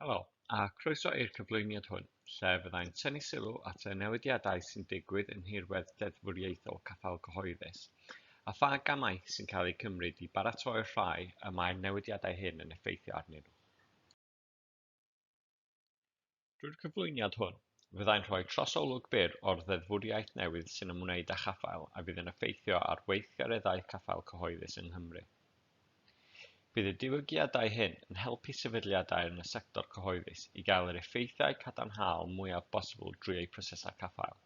Helo, a croeso i'r cyflwyniad hwn, lle fyddai'n tynnu sylw at y newidiadau sy'n digwydd yn nhirwedd deddfwriaethol caffael cyhoeddus, a pha gamau sy'n cael eu cymryd i baratoi'r rhai y mae'r newidiadau hyn yn effeithio arnyn nhw. Drwy'r cyflwyniad hwn, fyddai'n rhoi trosolwg byr o'r ddeddfwriaeth newydd sy'n ymwneud â chaffael a fydd yn effeithio ar weithgareddau caffael cyhoeddus yng Nghymru. Bydd y diwygiadau hyn yn helpu sefydliadau yn y sector cyhoeddus i gael yr effeithiau cadarnhaol mwyaf bosibl drwy eu prosesau caffael,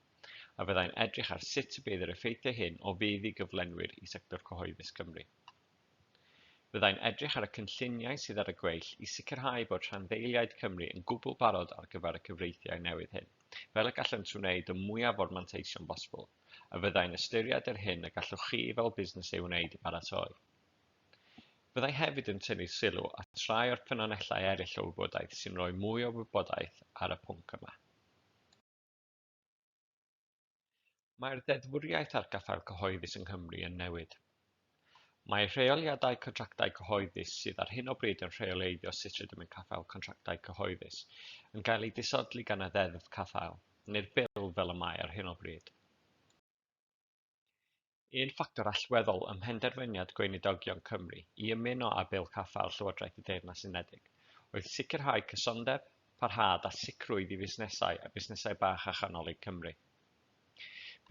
a fyddai'n edrych ar sut y bydd yr effeithiau hyn o fudd i gyflenwyr i sector cyhoeddus Cymru. Byddai'n edrych ar y cynlluniau sydd ar y gweill i sicrhau bod rhanddeiliaid Cymru yn gwbl barod ar gyfer y cyfreithiau newydd hyn, fel y gallent wneud y mwyaf o'r manteision bosibl, a fyddai'n ystyried yr hyn y gallwch chi fel busnes ei wneud i baratoi. Byddai hefyd yn tynnu sylw at rai o'r ffynonellau eraill o wybodaeth sy'n rhoi mwy o wybodaeth ar y pwnc yma. Mae'r ddeddfwriaeth ar gaffael cyhoeddus yng Nghymru yn newid. Mae rheoliadau contractau cyhoeddus sydd ar hyn o bryd yn rheoleiddio sut rydym yn caffael contractau cyhoeddus yn cael eu disodli gan y Ddeddf Caffael, neu'r Bil fel y mae ar hyn o bryd. Un ffactor allweddol ym mhenderfyniad Gweinidogion Cymru i ymuno â Bil Caffael Llywodraeth y Deyrnas Unedig oedd sicrhau cysondeb, parhad a sicrwydd i fusnesau a busnesau bach a chanolig Cymru.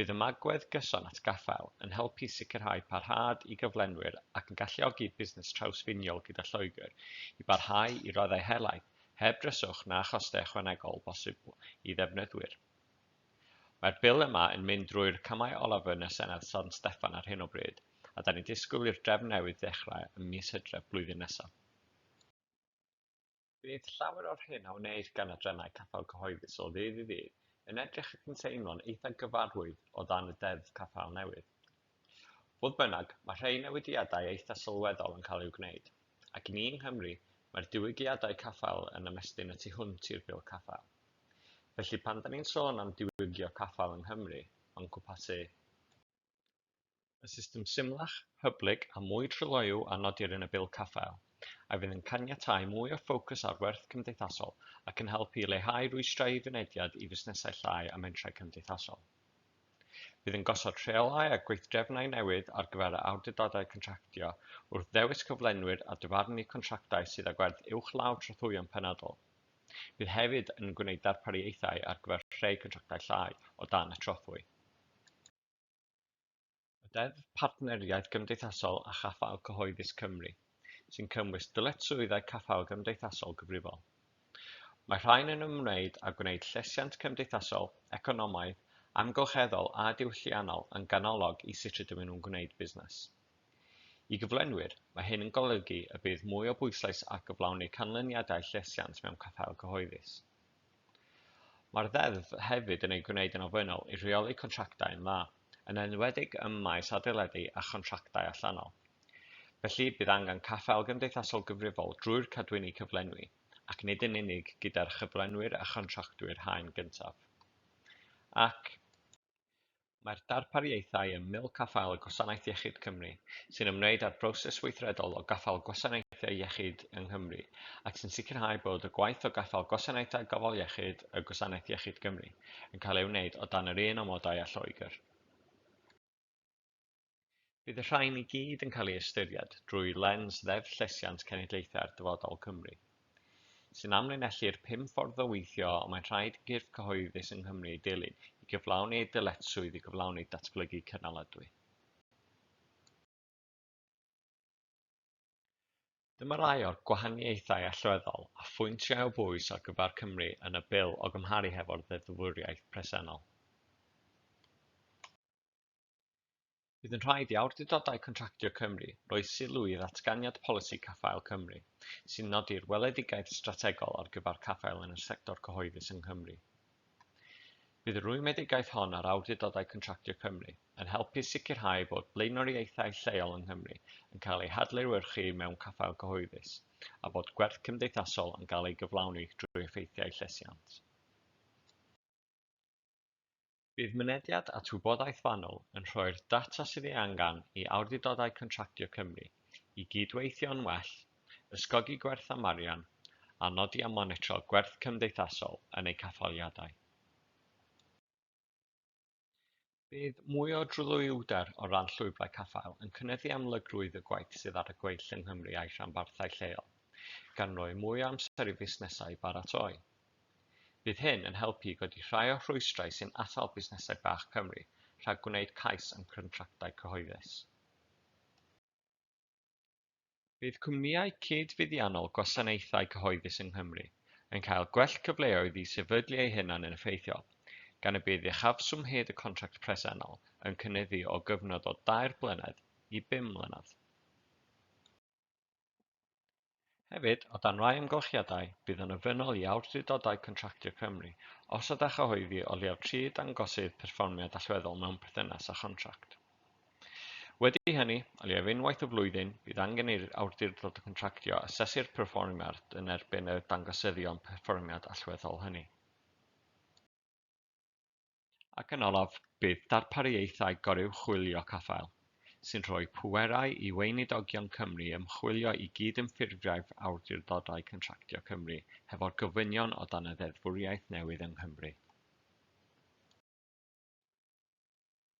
Bydd ymagwedd gyson at gaffael yn helpu sicrhau parhad i gyflenwyr ac yn galluogi busnes trawsffiniol gyda Lloegr i barhau i raddau helaeth heb dryswch na chostau ychwanegol bosibl i ddefnyddwyr. Mae'r Bil yma yn mynd drwy'r camau olaf yn y Senedd San Steffan ar hyn o bryd, a dan ni'n disgwyl i'r drefn newydd ddechrau ym mis Hydref blwyddyn nesaf. Bydd llawer o'r hyn a wneir gan y drenau caffael cyhoeddus o ddydd i ddydd yn edrych ac yn teimlo'n eitha' gyfarwydd o dan y Deddf Caffael newydd. Fodd bynnag, mae rhai newidiadau eitha' sylweddol yn cael eu gwneud, ac i ni yng Nghymru, mae'r diwygiadau caffael yn ymestyn y tu hwnt i'r Bil Caffael. Felly, pan 'da ni'n sôn am diwygio caffael yng Nghymru, mae'n cwmpasu, y system symlach, hyblyg a mwy tryloyw a nodir yn y Bil Caffael, a fydd yn caniatáu mwy o ffocws ar werth cymdeithasol ac yn helpu i leihau rwystrau i fynediad i fusnesau llai a mentrau cymdeithasol. Bydd yn gosod rheolau a gweithdrefnau newydd ar gyfer yr awdurdodau contractio wrth ddewis cyflenwyr a dyfarnu contractau sydd â gwerth uwchlaw trothwyon penodol. Bydd hefyd yn gwneud darpariaethau ar gyfer rhei contractau llai o dan y trothwy. Y Deddf Partneriaeth Gymdeithasol a Chaffael Cyhoeddus Cymru, sy'n cynnwys dyletswyddau caffael gymdeithasol gyfrifol. Mae rhain yn ymwneud â gwneud llesiant cymdeithasol, economaidd, amgylcheddol a diwylliannol yn ganolog i sut rydym nhw'n gwneud busnes. I gyflenwyr, mae hyn yn golygu y bydd mwy o bwyslais ar gyflawni canlyniadau llesiant mewn caffael cyhoeddus. Mae'r Ddeddf hefyd yn ei gwneud yn ofynnol i reoli contractau yn dda, yn enwedig ym maes adeiladu a chontractau allanol. Felly, bydd angen caffael gymdeithasol gyfrifol drwy'r cadwyni cyflenwi, ac nid yn unig gyda'r chyflenwyr a chontractwyr haen gyntaf. Ac, Mae'r darpariaethau ym Mil Caffael Gwasanaeth Iechyd Cymru, sy'n ymwneud â'r broses weithredol o gaffael gwasanaethau iechyd yng Nghymru ac sy'n sicrhau bod y gwaith o gaffael gwasanaethau gofal iechyd y Gwasanaeth Iechyd Cymru yn cael ei wneud o dan yr un amodau â Lloegr. Bydd y rhain i gyd yn cael ei ystyried drwy lens Ddeddf Llesiant Cenedlaethau'r Dyfodol Cymru, sy'n amlinellu'r pum ffordd o weithio y mae'n rhaid i gyrff cyhoeddus yng Nghymru ei dilyn i gyflawni ei dyletswydd i gyflawni datblygu cynaladwy. Dyma rai o'r gwahaniaethau allweddol a phwyntiau o bwys ar gyfer Cymru yn y Bil o gymharu hefo'r ddeddfwriaeth presennol. Bydd yn rhaid i awdurdodau contractio Cymru roi sylw i ddatganiad polisi caffael Cymru, sy'n nodi'r weledigaeth strategol ar gyfer caffael yn y sector cyhoeddus yng Nghymru. Bydd y rwymedigaeth hon ar awdurdodau contractio Cymru yn helpu sicrhau bod blaenoriaethau lleol yng Nghymru yn cael eu hadlewyrchu mewn caffael cyhoeddus a bod gwerth cymdeithasol yn cael ei gyflawni drwy effeithiau llesiant. Bydd mynediad at wybodaeth fanwl yn rhoi'r data sydd ei angen i Awdurdodau Contractio Cymru i gyd-weithio'n well, ysgogi gwerth am arian, a nodi a monitro gwerth cymdeithasol yn eu caffaliadau. Bydd mwy o drylwyder o ran llwybrau caffael yn cynyddu amlygrwydd y gwaith sydd ar y gweill yng Nghymru a'i rhanbarthau lleol, gan roi mwy o amser i fusnesau baratoi. Bydd hyn yn helpu i godi rhai o'r rhwystrau sy'n atal busnesau bach Cymru rhag gwneud cais am gyntractau cyhoeddus. Bydd cwmnïau cyd-fuddiannol gwasanaethau cyhoeddus yng Nghymru yn cael gwell cyfleoedd i sefydlu eu hunain yn effeithiol, gan y bydd uchafswm hyd y contract presennol yn cynyddu o gyfnod o dair blynedd i bum mlynedd. Hefyd, o dan rai amgylchiadau, bydd yn ofynnol i awdurdodau contractio Cymru osod a chyhoeddi o leiaf tri dangosydd perfformiad allweddol mewn perthynas â chontract. Wedi hynny, o leiaf unwaith y flwyddyn, bydd angen i'r awdurdod contractio asesu'r perfformiad yn erbyn y dangosyddion perfformiad allweddol hynny. Ac yn olaf, bydd darpariaethau goruwchwylio caffael, sy'n rhoi pwerau i Weinidogion Cymru ymchwilio i gyd-ymffurfiaeth Awdurdodau Contractio Cymru hefo'r gofynion o dan y ddeddfwriaeth newydd yng Nghymru.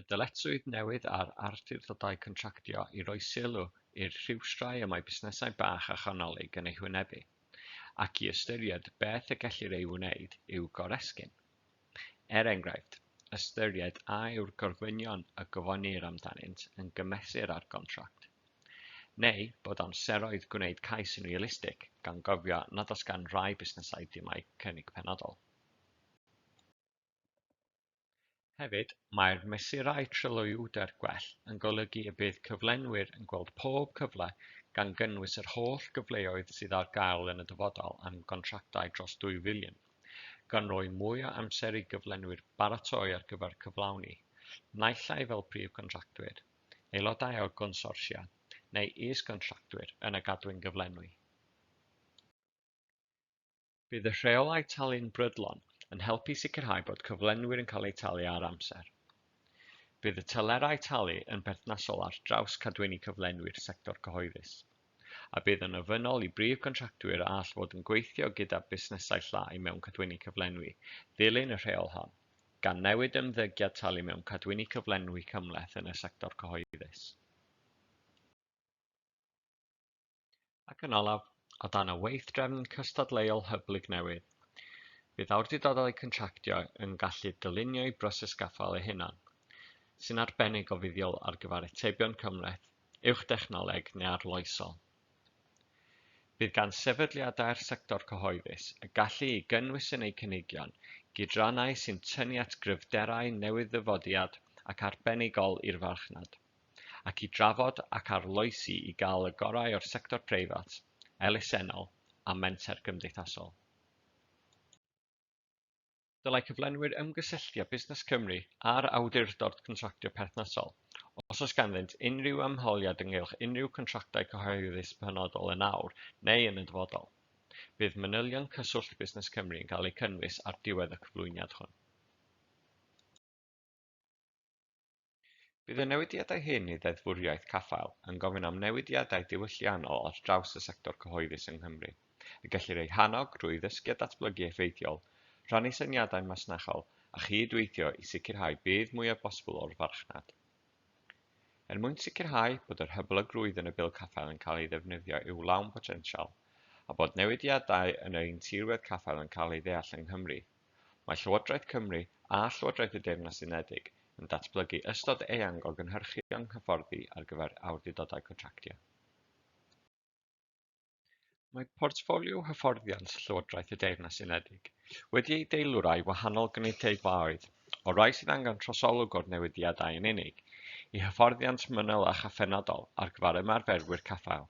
Y dyletswydd newydd ar awdurdodau contractio i roi sylw i'r rhwystrau y mae busnesau bach a chanolig yn eu hwynebu, ac i ystyried beth y gellir ei wneud i'w goresgyn. Er enghraifft, ystyried a yw'r gorfynion y gofynnir amdanynt yn gymesur â'r gontract, neu bod amseroedd gwneud cais yn realistig, gan gofio nad oes gan rai busnesau dimai cynnig penodol. Hefyd, mae'r mesurau tryloywder gwell yn golygu y bydd cyflenwyr yn gweld pob cyfle, gan gynnwys yr holl gyfleoedd sydd ar gael yn y dyfodol am gontractau dros ddwy filiwn, gan roi mwy o amser i gyflenwyr baratoi ar gyfer cyflawni, naill ai fel prif gontractwyr, aelodau o gonsortia neu is-gontractwyr yn y gadwyn gyflenwi. Bydd y rheolau talu'n brydlon yn helpu sicrhau bod cyflenwyr yn cael eu talu ar amser. Bydd y telerau talu yn berthnasol ar draws cadwyni cyflenwi'r sector cyhoeddus, a bydd yn ofynnol i brif gontractwyr a all fod yn gweithio gyda busnesau llai mewn cadwyni cyflenwi ddilyn y rheol hon, gan newid ymddygiad talu mewn cadwyni cyflenwi cymhleth yn y sector cyhoeddus. Ac yn olaf, o dan y weithdrefn cystadleuol hyblyg newydd, bydd awdurdodau contractio yn gallu dylunio'u broses gaffael eu hunan, sy'n arbennig o fuddiol ar gyfer atebion cymhleth, uwch-dechnoleg neu arloesol. Bydd gan sefydliadau'r sector cyhoeddus y gallu i gynnwys yn eu cynigion gydrannau sy'n tynnu at gryfderau newydd-ddyfodiad ac arbenigol i'r farchnad. ac i drafod ac arloesi i gael y gorau o'r sector preifat, elusennol a menter gymdeithasol. Dylai cyflenwyr ymgysylltu â Busnes Cymru a'r Awdurdod Contractio perthnasol os oes ganddynt unrhyw ymholiad ynghylch unrhyw gontractau cyhoeddus penodol yn awr neu yn y dyfodol. Bydd manylion cyswllt Busnes Cymru yn cael eu cynnwys ar diwedd y cyflwyniad hwn. Bydd y newidiadau hyn i ddeddfwriaeth caffael yn gofyn am newidiadau diwylliannol ar draws y sector cyhoeddus yng Nghymru, y gellir eu hannog drwy ddysgu a datblygu effeithiol, rhannu syniadau masnachol a chyd-weithio i sicrhau budd mwyaf bosibl o'r farchnad. Er mwyn sicrhau bod yr hyblygrwydd yn y Bil Caffael yn cael ei ddefnyddio i'w lawn potensial, a bod newidiadau yn ein tirwedd caffael yn cael ei ddeall yng Nghymru, Mae Llywodraeth Cymru a Llywodraeth y Deyrnas Unedig yn datblygu ystod eang o gynhyrchion hyfforddi ar gyfer awdurdodau contractio. Mae portffolio hyfforddiant Llywodraeth y Deyrnas Unedig wedi ei deilwrai wahanol gynulleidfaoedd, o rai sydd angen trosolwg o'r newidiadau yn unig, i hyfforddiant manylach a phenodol ar gyfer ymarferwyr caffael.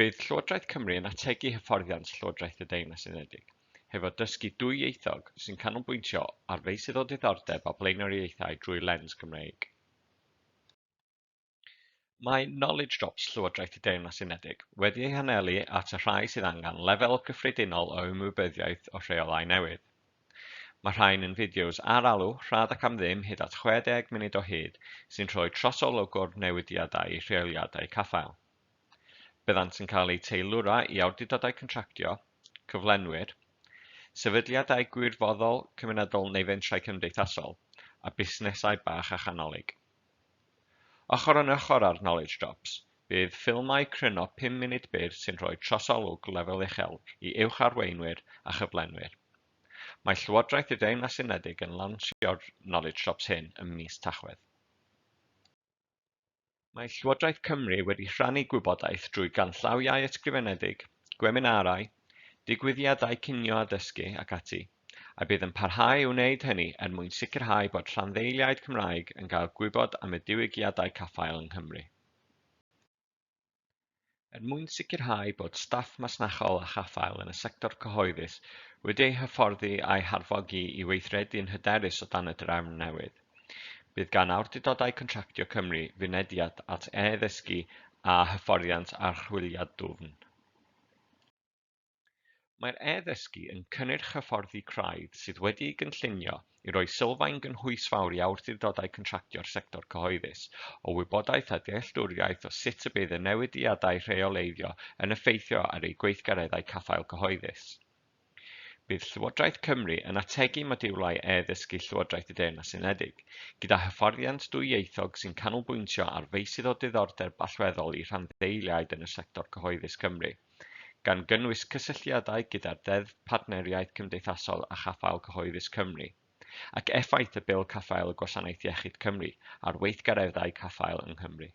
Bydd Llywodraeth Cymru yn ategu hyfforddiant Llywodraeth y Deyrnas Unedig hefo dysgu dwyieithog sy'n canolbwyntio ar feysydd o ddiddordeb a blaenoriaethau drwy lens Gymreig. Mae Knowledge Drops Llywodraeth y Deyrnas Unedig wedi ei hanelu at y rhai sydd angen lefel gyffredinol o ymwybyddiaeth o rheolau newydd. Mae rhain yn fideos ar-alw, rhad ac am ddim, hyd at 60 munud o hyd, sy'n rhoi trosolwg o'r newidiadau i rheoliadau caffael. Byddant yn cael eu teilwra i awdurdodau contractio, cyflenwyr, sefydliadau gwirfoddol, cymunedol neu fentrau cymdeithasol, a busnesau bach a chanolig. Ochr yn ochr â'r Knowledge Drops, bydd ffilmau cryno pum munud byr sy'n rhoi trosolwg lefel uchel i uwch arweinwyr a chyflenwyr. Mae Llywodraeth y Deyrnas Unedig yn lansio'r Knowledge Drops hyn ym mis Tachwedd. Mae Llywodraeth Cymru wedi rhannu gwybodaeth drwy ganllawiau ysgrifenedig, gweminarau, digwyddiadau cinio a dysgu ac ati, a bydd yn parhau i wneud hynny er mwyn sicrhau bod rhanddeiliaid Cymraeg yn cael gwybod am y diwygiadau caffael yng Nghymru. Er mwyn sicrhau bod staff masnachol a chaffael yn y sector cyhoeddus wedi eu hyfforddi a'u harfogi i weithredu'n hyderus o dan y drefn newydd, bydd gan Awdurdodau Contractio Cymru fynediad at e-ddysgu a hyfforddiant archwiliad dwfn. Mae'r e-ddysgu yn cynnyrch hyfforddi craidd sydd wedi'i gynllunio i roi sylfaen gynhwysfawr i awdurdodau contractio'r sector cyhoeddus o wybodaeth a dealltwriaeth o sut y bydd y newidiadau rheoleiddio yn effeithio ar eu gweithgareddau caffael cyhoeddus. Bydd Llywodraeth Cymru yn ategu modiwlau e-ddysgu Llywodraeth y Deyrnas Unedig, gyda hyfforddiant dwyieithog sy'n canolbwyntio ar feysydd o diddordeb allweddol i rhanddeiliaid yn y sector cyhoeddus Cymru. gan gynnwys cysylltiadau gyda'r Ddeddf Partneriaeth Cymdeithasol a Chaffael Cyhoeddus Cymru, ac effaith y Bil Caffael y Gwasanaeth Iechyd Cymru ar weithgareddau caffael yng Nghymru.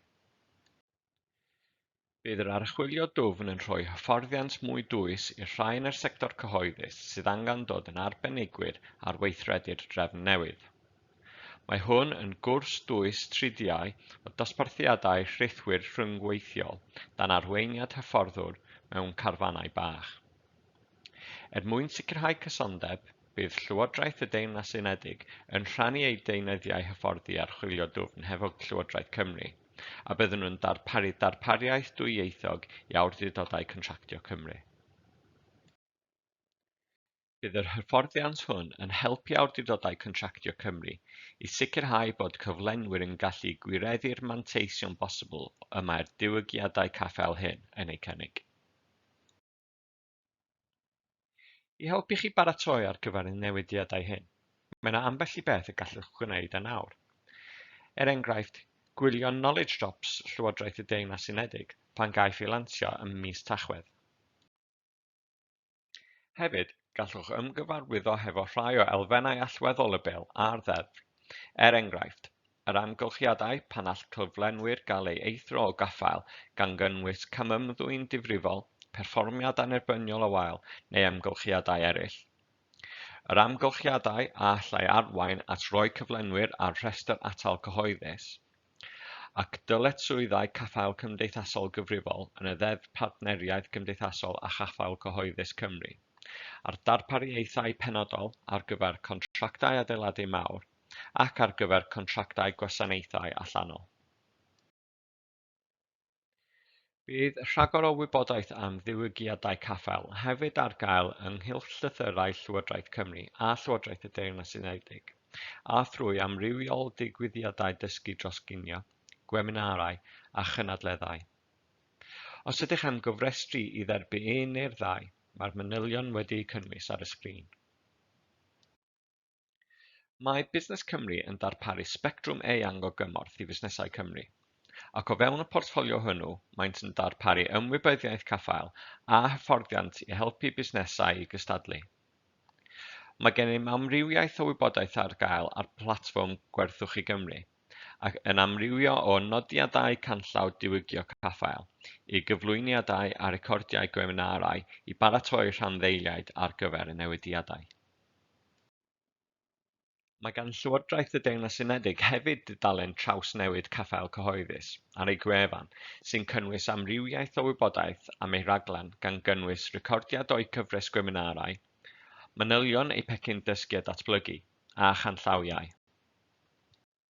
Bydd yr archwilio dwfn yn rhoi hyfforddiant mwy dwys i'r rhai yn y sector cyhoeddus sydd angen dod yn arbenigwyr ar weithredu'r drefn newydd. Mae hwn yn gwrs dwys tridiau o dosbarthiadau rhithwir rhyngweithiol dan arweiniad hyfforddwr mewn carfanau bach. Er mwyn sicrhau cysondeb, bydd Llywodraeth y Deyrnas Unedig yn rhannu eu deunyddiau hyfforddi archwilio dwfn hefo Llywodraeth Cymru, a byddwn nhw'n darparu darpariaeth dwyieithog i awdurdodau contractio Cymru. Bydd yr hyfforddiant hwn yn helpu Awdurdodau Contractio Cymru i sicrhau bod cyflenwyr yn gallu gwireddu'r manteision bosibl y mae'r diwygiadau caffael hyn yn eu cynnig. I helpu chi baratoi ar gyfer y newidiadau hyn, mae yna ambell i beth y gallwch gwneud yn awr. Er enghraifft, gwylio Knowledge Drops Llywodraeth y Deyrnas Unedig pan gaiff ei lansio ym mis Tachwedd. Hefyd, gallwch ymgyfarwyddo hefo rhai o elfennau allweddol y bil a'r ddeddf. Er enghraifft, yr amgylchiadau pan all cyflenwyr gael ei eithrio o gaffael, gan gynnwys camymddwyn difrifol, perfformiad annerbyniol o wael neu amgylchiadau eraill. Yr amgylchiadau a allai arwain at roi cyflenwyr ar rhestr atal cyhoeddus. ac dyletswyddau caffael cymdeithasol gyfrifol yn y Ddeddf Partneriaeth Gymdeithasol a Chaffael Cyhoeddus Cymru, a'r darpariaethau penodol ar gyfer contractau adeiladu mawr ac ar gyfer contractau gwasanaethau allanol. Bydd rhagor o wybodaeth am ddiwygiadau caffael hefyd ar gael ynghylch llythyrau Llywodraeth Cymru a Llywodraeth y Deyrnas Unedig, a thrwy amrywiol ddigwyddiadau dysgu dros ginio, gweminarau a chynadleddau. Os ydych am gofrestru i dderbyn un neu'r ddau, mae'r manylion wedi'u cynnwys ar y sgrin. Mae Busnes Cymru yn darparu sbectrwm eang o gymorth i fusnesau Cymru, ac o fewn y portffolio hwnnw, maent yn darparu ymwybyddiaeth caffael a hyfforddiant i helpu busnesau i gystadlu. Mae gennym amrywiaeth o wybodaeth ar gael ar platfform Gwerthuchi Gymru, ac yn amrywio o nodiadau canllaw diwygio caffael i gyflwyniadau a recordiau gweminarau i baratoi rhanddeiliaid ar gyfer y newidiadau. Mae gan Llywodraeth y Deyrnas Unedig hefyd dudalen trawsnewid Caffael Cyhoeddus ar ei gwefan, sy'n cynnwys amrywiaeth o wybodaeth am ei raglen gan gynnwys recordiad o'u cyfres gweminarau, manylion eu pecyn dysgu a datblygu, a chanllawiau.